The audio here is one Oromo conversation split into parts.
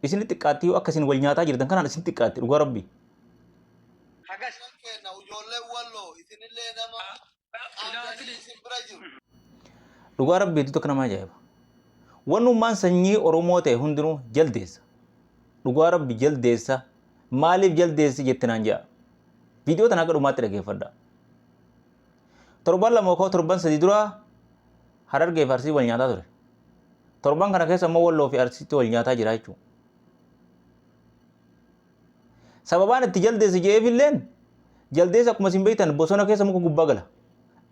Isini xiqqaatti yoo akka isin wal nyaataa jirtan kanaan isin xiqqaatti dhugaa rabbi. Hagas. Kan keenna ujoollee walloo isinillee nama qaamdanii isin bira jiru. Dhugaa rabbi hedduu takka nama ajaa'iba. Wannummaan sanyii Oromoo ta'e hundinuu jaldeessa. Dhugaa rabbi jaldeessa maaliif jaldeessi jette naan ja'a. Viidiyoo tana akka dhumaatti dhageeffadha. Torban lama yookaan torban sadii dura Harargee fi Arsiin wal nyaataa ture. Torban kana keessa immoo Walloo fi Arsiitti wal nyaataa jira jechuudha. Sababaan itti jaldeessa jedheef illeen jaldeessa akkuma isin beektan bosona keessa muka gubbaa gala.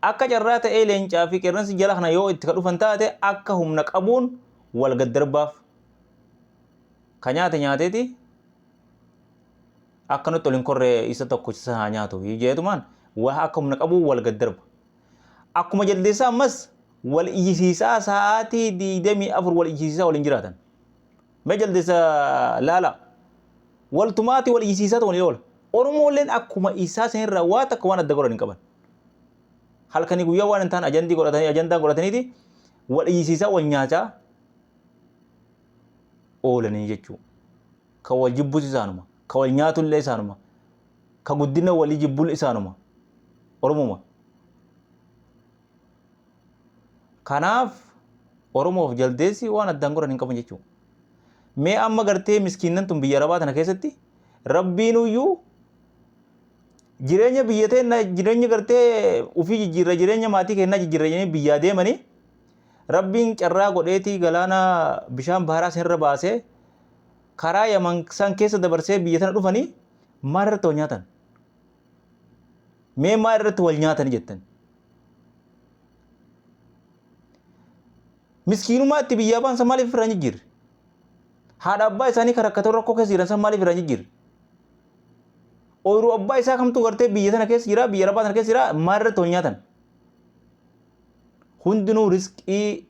Akka carraa ta'ee leencaa fi qeerransi jala kana yoo itti ka dhufan taate akka humna qabuun wal gad darbaaf. Ka nyaate nyaateeti Akka nutti ol hin korre isa tokkochisa haa nyaatu jeetumaan waa akka humna qabuu wal gad darba. Akkuma jaldeessaa ammas wal iyyisiisaa sa'aatii digdamii afur wal iyyisiisaa waliin jiraatan. Mee jaldeessa laalaa. Wal tumaatii wal iyyisiisaatu waliin oola. Oromoolleen akkuma isaa sanirraa waa takka waan adda godhan hin qaban. Halkanii guyyaa waan hin taane ajandii godhatanii ajandaan godhataniiti wal iyyisiisaa wal nyaataa oolanii jechuudha. Ka wal jibbus isaanuma. Ka wal nyaatullee isaanuma. Ka guddina walii jibbul isaanuma. Oromuma. Kanaaf Oromoof jaldeessi waan addaan godhan hin qaban jechuudha. Mee amma gartee miskiinnan tun biyya Arabaa tana keessatti rabbiinuyyuu jireenya biyya teenna jireenya gartee ufii jijjiirra jireenya maatii keennaa jijjiirra jedhanii biyyaa deemanii rabbiin carraa godheetii galaana bishaan baharaa seenirra baasee karaa yaman san keessa dabarsee biyya tana dhufanii maal irratti wal nyaatan mee maal irratti wal nyaatanii jettan miskiinumaa itti biyyaa baan san maaliif irraa hin jijjiirre haadha abbaa isaanii kan rakkatoo rakkoo keessa jiran san maaliif irraa hin jijjiirre ooyiruu abbaa isaa kamtu gartee biyya sana keessa jira biyya arabaa sana keessa jira maal irratti wal nyaatan hundinuu risqii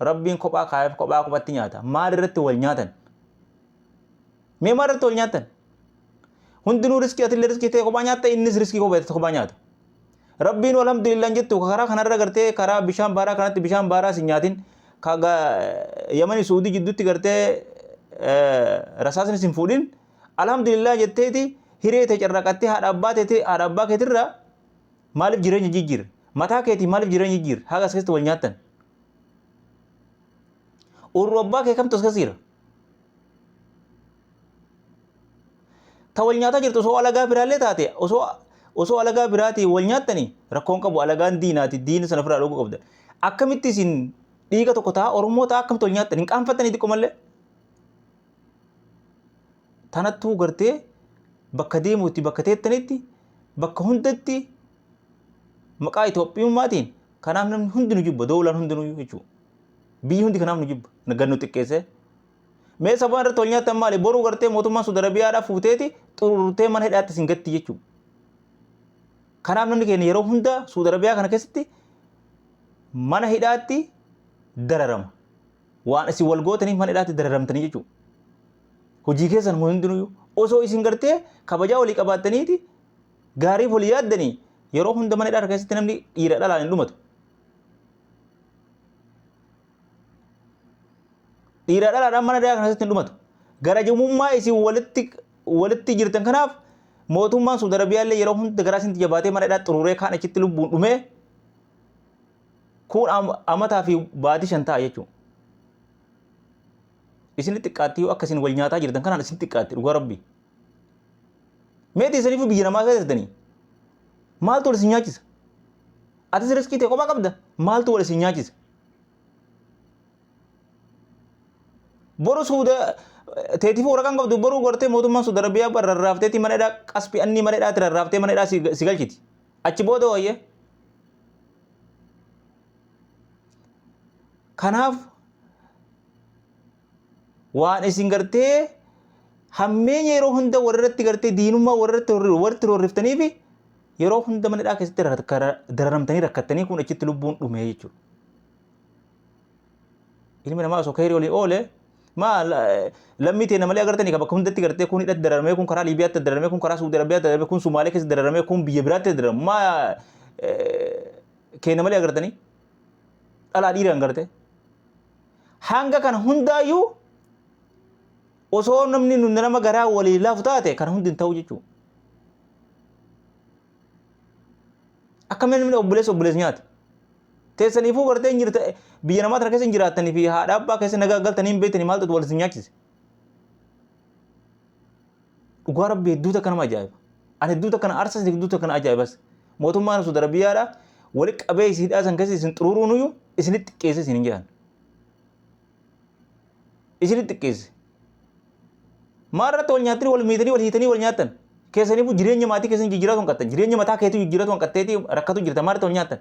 rabbiin kophaa kaayaf kophaa kophatti nyaata maal irratti wal nyaatan mee maal irratti wal nyaatan hundinuu riskii atillee riskii ta'e kophaa nyaatta innis riskii kophaa ta'e kophaa nyaata rabbiin alhamdulillah hin jettu karaa kanarra gartee karaa bishaan baaraa kanatti bishaan baaraa sin nyaatin kaga yamani suudii jidduutti gartee rasaasni sin fuudhin alhamdulillah jetteeti hiree ta'e carraaqattee haadha abbaa teeti haadha abbaa keetirra Maaliif jireenya jijjiirre? Mataa keetii maaliif jireenya jijjiirre? Haga as keessatti wal nyaattan. Urru abbaa kee kamtu as keessa jira? Ta wal nyaataa jirtu osoo alagaa biraallee taate osoo osoo alagaa biraatiin wal nyaattanii rakkoon qabu alagaan diinaati diina sana ofirraa dhoguu qabda. Akkamitti isin dhiiga tokko ta'a Oromoo ta'a akkamitti wal nyaattan hin qaanfattanii xiqqoo mallee? tanattuu gartee bakka deemuutti bakka teettanitti bakka hundatti maqaa Itoophiyummaatiin kanaaf namni hundi nu jibba doolaan hundinuu jechuudha. Biyyi hundi kanaaf nu jibba gad nu xiqqeessee. Mee sabaan irratti wal nyaattan maali boruu gartee mootummaan Suudi Arabiyaadhaa fuuteeti xururtee mana hidhaatti isin gatti jechuudha. Kanaaf namni keenya yeroo hunda Suudi Arabiyaa kana keessatti mana hidhaatti dararama. Waan isin wal gootaniif mana hidhaatti dararamtanii jechuudha. Hojii keessan hundinuu osoo isin gartee kabajaa walii qabaattaniiti gaariif walii yaaddanii yeroo hunda mana hidhaa keessatti namni dhiira dhalaan hin dhumatu. Dhiira dhalaadhaan mana hidhaa keessatti hin dhumatu. Garajumummaa isin walitti walitti jirtan kanaaf mootummaan Suudi Arabiyaa illee yeroo hunda garaa isinti jabaatee mana hidhaa xururee kaan achitti lubbuun dhumee Kun am- amataa fi baatii shan ta'a jechuudha. Isin xiqqaatti yoo akka isin wal nyaataa jirtan kanaan isin xiqqaatti dhugaa rabbi. Meeti isiniif biyya namaa keessa jirtanii? Maaltu wal isin nyaachisa? Atis riskii ta'e kophaa qabda? Maaltu wal isin nyaachisa? Boru suuda teetiif waraqaan qabdu boruu gortee mootummaan suuda rabbiyaa rarraafteetii mana hidhaa qasbi annii mana hidhaatti rarraaftee mana hidhaa si si galchiti. Achi booda hooyyee. Kanaaf waan isin gartee hammeenya yeroo hunda walirratti gartee diinummaa walirratti horri- walitti roorriftanii fi yeroo hunda mana hidhaa keessatti rakka- dararamtanii rakkattanii kun achitti lubbuun dhume jechuudha. ilmi namaa osoo keerii olii oole maa lammii teena malee agartanii kan bakka hundatti gartee kun hidhatti dararamee kun karaa Liibiyaatti dararamee kun karaa Suudi Arabiyaatti dararamee kun Sumaalee keessa dararamee kun biyya biraatti dararamu maa keena malee agartanii dhalaa dhiiraan gartee hanga kana hundaayyuu osoo namni nu nama garaa walii laafu taate kan hundi hin ta'u jechuudha. Akkamiin namni obboleessa obboleessa nyaata? Teessaniifuu gartee hin jirta biyya namaa tana keessa hin jiraattanii fi haadha abbaa keessa nagaa galtanii hin beektanii maaltu wal isin nyaachise. Dhugaa rabbi hedduu takka nama ajaa'iba. Ani hedduu takka na aarsas hedduu takka na ajaa'ibas. Mootummaan Saudi Arabiyaadha wali qabee isin hidhaa san keessa isin xuruuruun iyyuu isinitti xiqqeessee isin hin jedhan. isini xiqqeesse. Maa irratti wal nyaattanii wal miitanii wal hiitanii wal nyaattan. Keessaniifuu jireenya maatii keessanii jijjiiratu hanqattan. Jireenya mataa keetii jijjiiratu hanqatteetii rakkatu jirta. Maa irratti wal nyaattan.